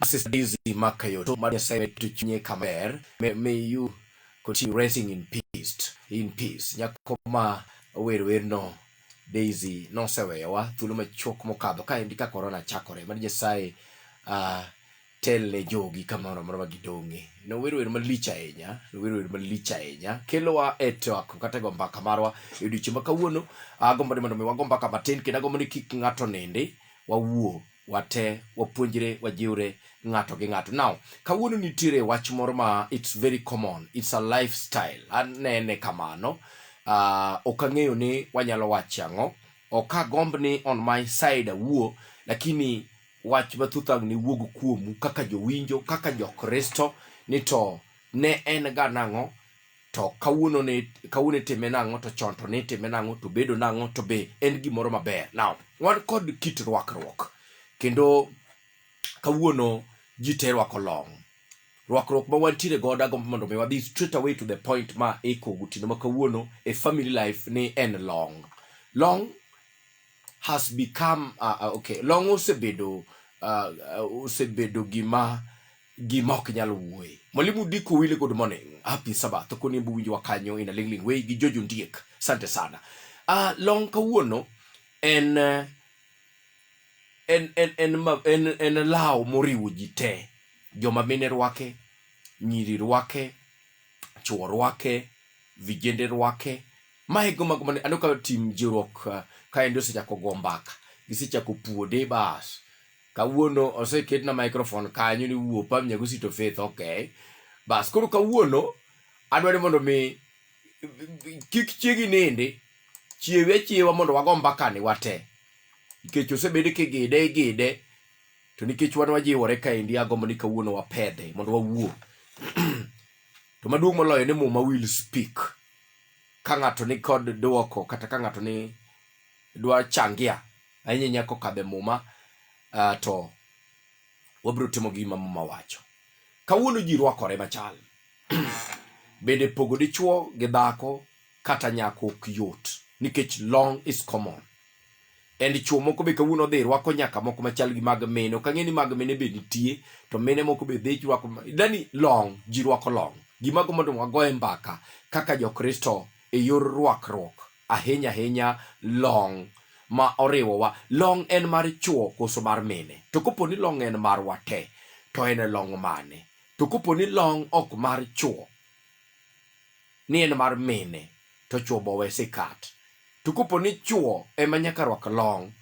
Asisizi maka yoto mari Nyasaye tuchunye kamer. May, may you continue resting in peace. In peace. Nyako ma wer wer no Daisy noseweyowa thuolo machuok mokadho ka endi ka corona chakore. Mari Nyasaye uh, tel ne jogi kamoro amora ma gidong'e. Nowero wer malich ahinya, nowero wer malich ahinya. Kelowa e twak kata e go mbaka marwa e odiechieng' ma kawuono. Agombo ni mondo mi wago mbaka matin kendo agombo ni kik ng'ato nindi, wawuo wate, wapuonjre, wajiwre ng'ato gi ng'ato. Now, kawuono nitiere wach moro ma it's very common, it's a lifestyle. Anene kamano. Ah, ok ang'eyo ni wanyalo wache ang'o. Ok agomb ni on my side awuo, lakini wach mathoth ang' ne wuog kuomu kaka jowinjo, kaka jo-Kristo, ni to ne en ga nang'o, to kawuono ne kawuono itime nang'o, to chon to ne itime nang'o, to bedo nang'o, to be en gimoro maber. Now, wan kod kit rwakruok, kendo kawuono ji te rwako long. Rwakruok ma wantiere godo agombo mondo mi wadhi straight away to the point ma iko gotieno ma kawuono e family life ni en long. Long has become uh, uh, okay long osebedo uh, uh, osebedo gima gima ok nyal wuoye mwalimu diko wile good morning happy sabbath koni mbu winjwa kanyo ina lingling way gi jojo ndiek sante sana uh, long kawuono en uh, en en en en, en law moriwo ji te joma mine rwake nyiri rwake chwo rwake vijende rwake Mae go mago mane aneno ka tim jiruok eh, kaendi osechako go mbaka. Gisechako puode bas. Kawuono oseketna microphone kanyo ni wuo pam nyago sito faith okay. Bas koro kawuono adwa ni mondo mi kik chiegi nindi chiewe achiewa mondo wago mbaka ni wate. Nikech osebed kigide igide to nikech wan wajiwore kaendi agombo ni kawuono wapedhe mondo wawuo. to maduong' moloyo ni muma will speak. ka ng'ato ni kod dwoko kata ka ng'ato ni dwa changia ahinya inya kokadhe muma uh, to wabiro timo gima muma wacho kawuono ji rwakore machal bende pogo dichuo gi dhako kata nyako ok yot nikech long is common and chuo moko be kawuono odhi rwako nyaka moko machal gi mag mine ok ang'e ni mag mine be nitie to mine moko be dhi rwako dani long ji rwako long gimago mondo wagoye mbaka kaka jokristo e yor rwakruok ahinya ahinya long ma oriwowa long en mar chuo koso mar mine to kopo ni long en marwa te to en long mane to kopo ni long ok mar chuo ni en mar mine to chwo bo we sikat. To kopo ni chwo ema nyaka rwak long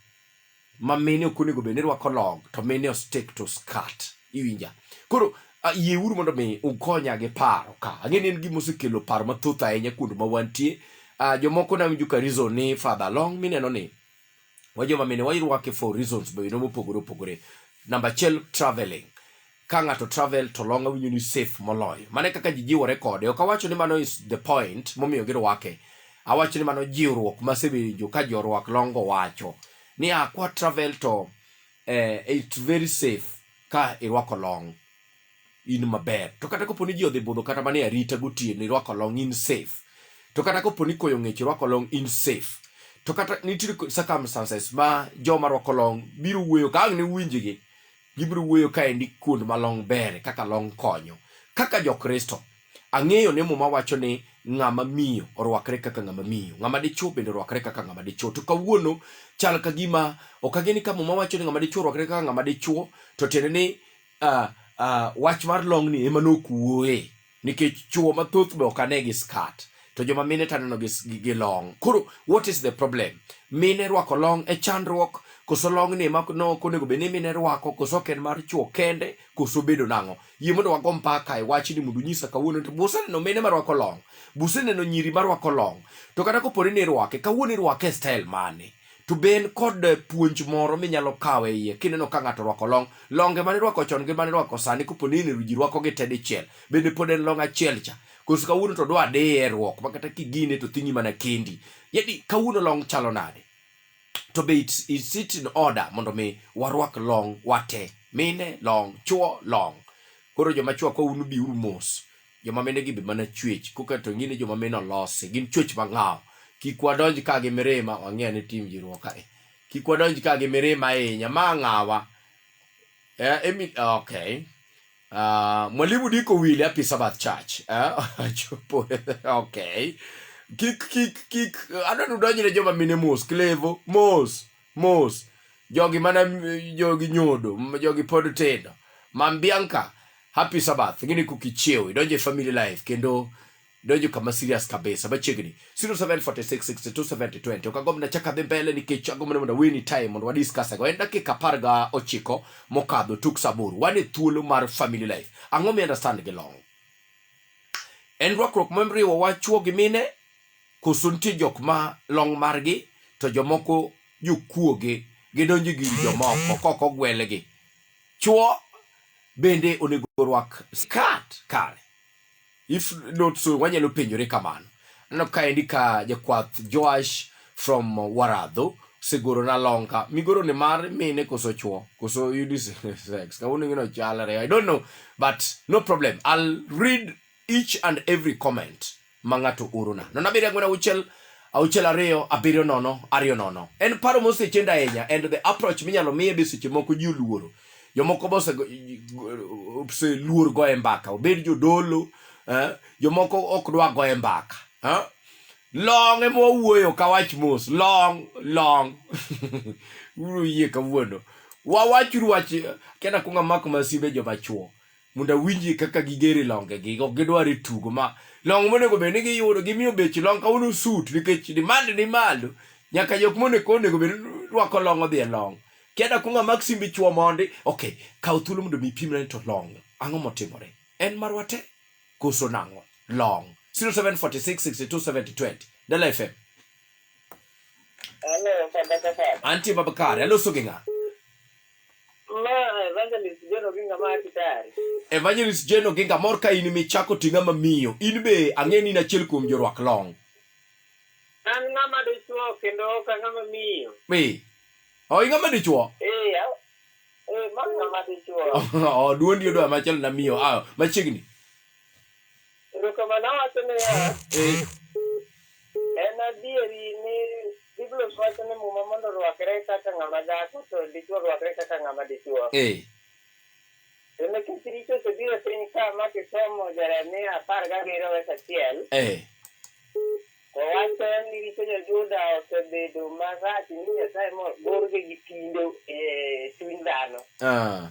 ma mine ok onego bed ni rwako long to mine ostik to skat. Iwinja? Koro yieuru mondo mi ukonya gi paro ka. Ang'e ni en gima osekelo paro mathoth ahinya kuond ma wantie. Uh, jomoko nawinjo ka reason ni father long mineno ni wa joma mine wairwake for reasons bende mopogore opogore namba achiel traveling ka ng'ato travel to long awinjo ni safe moloyo mane kaka ji jiwore kode ok awacho ni mano is the point momiyo girwake awacho ni mano jiwruok masewinjo ka jorwak longo wacho ni akwa travel to eh, it's very safe ka irwako long in maber to kata kopo ni ji odhi budho kata mane arita gotieno irwako long in safe to kata kopo ni koyo ng'ech irwako long in safe to kata nitie circumstances ma joma rwako long biro wuoyo ka ang' ne winjgi gibiro wuoyo kaendi kuond ma long ber kaka long konyo kaka jokristo ang'eyo ni muma wacho ni ng'ama miyo orwakre kaka ng'ama miyo ng'ama dichwo bende orwakre kaka ng'ama dichwo to kawuono chal ka gima ok ageni ka muma wacho ni ng'ama dichwo orwakre kaka ng'ama dichwo to tiende ni uh, uh, wach mar longni ema nokuoe nikech chuo mathoth be ok ane gi skat to joma mine to aneno gi, gi, gi long koro what is the problem mine rwako long e chandruok koso long ni ema no ok onego bed ni mine rwako koso ok en mar chuo kende koso bedo nang'o yie mondo wago mpaka e wachni mondo unyisa kawuono to buseneno mine marwako long buseneno nyiri marwako long to kata koponi ni irwake kawuono irwake e style mane to be en kod puonj moro minyalo kawo e iye kineno ka ng'ato orwako long longe mane irwako chon gi mane irwako sani kopo ni ineno ji rwako gi te dichiel bende pod en long achiel cha koso kawuono to dwa diye rwok ma kata kigine to thingi mana kendi yadi kawuono long chalo nade to be it's, it's it in order mondo mi warwak long wate mine long chuo long koro joma chwako unu biuru mos joma mine gi be mana chwech koka to ngine joma mine olosi gin chwech mang'aw kik wadonj ka gi mirima wang'e ni tim jiruok kae kik wadonj ka gi mirima ahinya ma ng'awa eh, emi okay uh, mwalimu diko wili happy sabbath church eh? chopo okay kik kik kik adwa ni udonjne joma mine mos klevo mos mos jogi mana jogi nyodo jogi pod tindo mam bianca happy sabbath ngini kukichiew idonjo e family life kendo donjo kama serious kabisa machiegni 0746627020 ok agomb nachak adhi mbele nikech agomb ni mondo aweni time mondo wadiscussego en dakika apar ga ochiko mokadho tuk saburu wan e thuolo mar family life ang'o mi understand gi long en rwakruok mamriwo wa chwo gi mine Koso nitie jok ma long' margi to jomoko jokuoge gidonjo gi jomoko kok ogwelgi. Chuo bende onego orwak skat kare. If not so wanyalo penjore kamano. Aneno kaendi ka jakwath Joash from Waradho siguro na longa migoro ni mar mine koso chuo koso unisex kawuono gino chalre i don't know but no problem i'll read each and every comment ma ng'ato orona. Nono abiriyo ang'wen auchiel auchiel ariyo abiriyo nono ariyo nono. En paro mosechend ahinya and the approach minyalo miye be seche moko ji oluoro. Jomoko be oseluor goye mbaka, obed jodolo, eh, jomoko ok dwa goye mbaka. Eh? Long ema wawuoyo ka wach mos, long, long. Uru yie kawuono. Wawachuru wach, kena kunga mako masimbe joma chuo. mondo awinjie kaka gigere longegi ok gidwar e tugo ma long monego bed ni giyudo gimiyo bech long kawuono sut nikech demand ni malo nyaka jok monego onego bed rwako long odhi e long kiada kunga mak simbi chwo mondi okay kaw thuolo mondo mi pimna ni to long ang'o motimore en marwa te koso nang'o long 0746627020 dala fm Hello, Father Kapar. antie babakare aloso gi ng'a Ma evangelist John Oginga ma Kitari. Evangelist Jane Oginga mor ka in michako ting'a ma miyo. In be ang'e ni in achiel kuom jorwak long. An ng'ama dichuo kendo ok ang'ama miyo. Ee. O ing'a ma dichuo? Eh, a- eh, ma ng'ama dichuo. Oh, duondi odwa machal na miyo. Ah, machiegni. Erokamano awacho niya, Eh, en adieri ni Biblos wacho ni muma mondo orwakre kaka ng'ama dhako to dichwo orwakre kaka ng'ama dichwo. eh, To nikech richo osebiro e piny ka ma kisomo Jeremia apar gabiriyo wes achiel, eh, to wacho ni richo jo-Juda osebedo marach ni Nyasaye mogorgi gi tindo e chuny dhano. ah,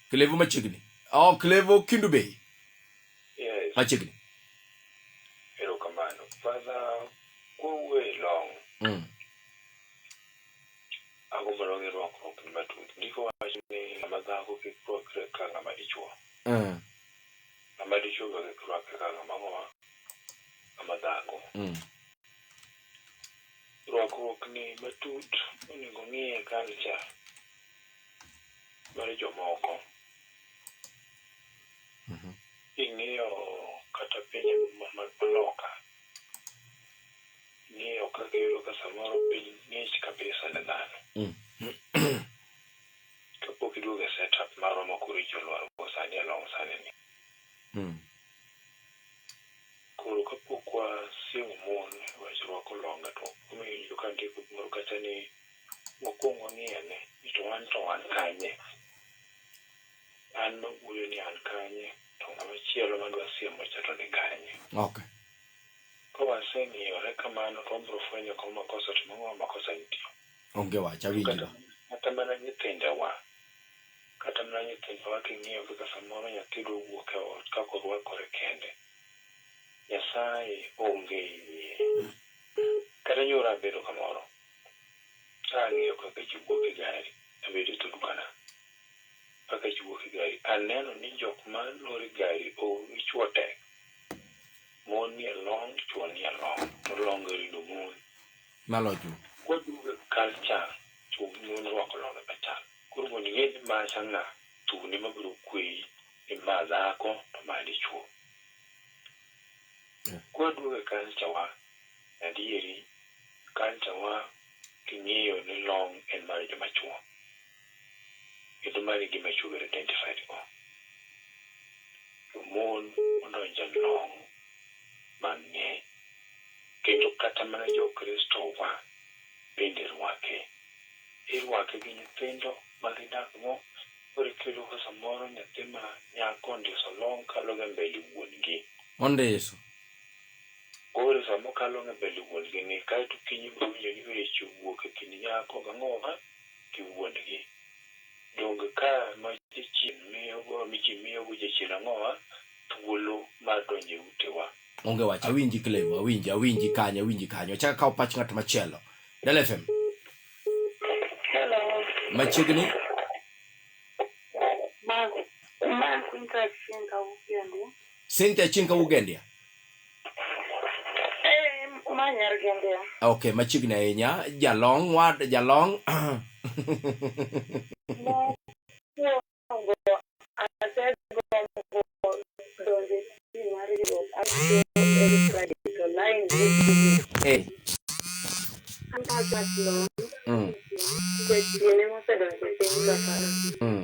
Clevo machiegni. Oh, Clevo Kindu Bay. Yes. Machiegni. Erokamano. Father, kowuoyo e long. Mm. Agombo long irwakruok ni matut. Ndiko wacho ni ng'ama dhako kik rwakre ka ng'ama dichwo. Mm. Ng'ama dichwo be kik rwakre ka ng'ama ng'owa. Ng'ama dhako. Mm. Rwakruok ni matut onego ng'iye culture. mar jomoko. Mhm. King'iyo kata pinje ma- mag loka, ing'iyo kaka iyudo ka samoro piny ng'ich kabisa ne dhano. Mm. Kapok iduogo e setup marwa ma koro icho lwar go sani e long sani ni. Mm. Koro kapok wasiemo mon wach rwako longa to omiyo ka ndiko moro kacha ni Wakwong wang'iyane ni to wan to wan kanye? An mawuoyo ni an kanye to ng'ama chielo madwa siemo cha to ni kanye? Okay. Ka waseng'iyore kamano to wabiro fwenyo kama makosa to mang'awa makosa nitie. Onge wach awinjora. Kata mana nyithindewa, kata mana nyithindewa king'iyo kaka samoro nyathi dwa wuok e ot kaka orwakore kende. Nyasaye onge yie. Kata nyoro abedo kamoro. Ka ang'iyo ka kech wuok e gari, abedo e turkana. Ka kech wuok e gari, aneno ni jok ma loro gari oume chwo tek. Mon nie long', chwo nie long'. To long' gi orido mon. Nalocho. Kwaduogo e culture, chwo gi mon rwako longe machal. Koro mondo ing'e ni ma cha ng'a, thun ema biro kweyi ni ma dhako to ma dichwo. Kwaduogo e culture wa, Adieri, culture wa king'iyo ni long' en mar joma chwo. Kendo mano e gima chwo be identified go. To mon odonje long' mang'eny. Kendo kata mana jo Kristo wa bende rwake. Irwake gi nyithindo ma gidak go. Koro kiyudo ka samoro nyathi ma nyako ondiso long' kaloga mbele wuon gi. Ondiso. Koro sama okalo ng'e mbele wuon gi ni kaeto okinyi ibiro winjo ni wech owuok e kind nyako gi ang'owa gi wuon gi. Donge ka ma jachien miyo go michi miyo go jachien ang'owa thuolo mar donjo e ute wa. Onge wach, awinji Clem, awinji, awinji kanyo, awinji kanyo. Achak akaw pach ng'at machielo. Del FM, Hello. machiegni. Ma, ma Quinta Chinga Ugendi. Cynthia Chinka Ugendia. Okay, machiegni ahinya jalong wad jalong Hey. Mm. Mm.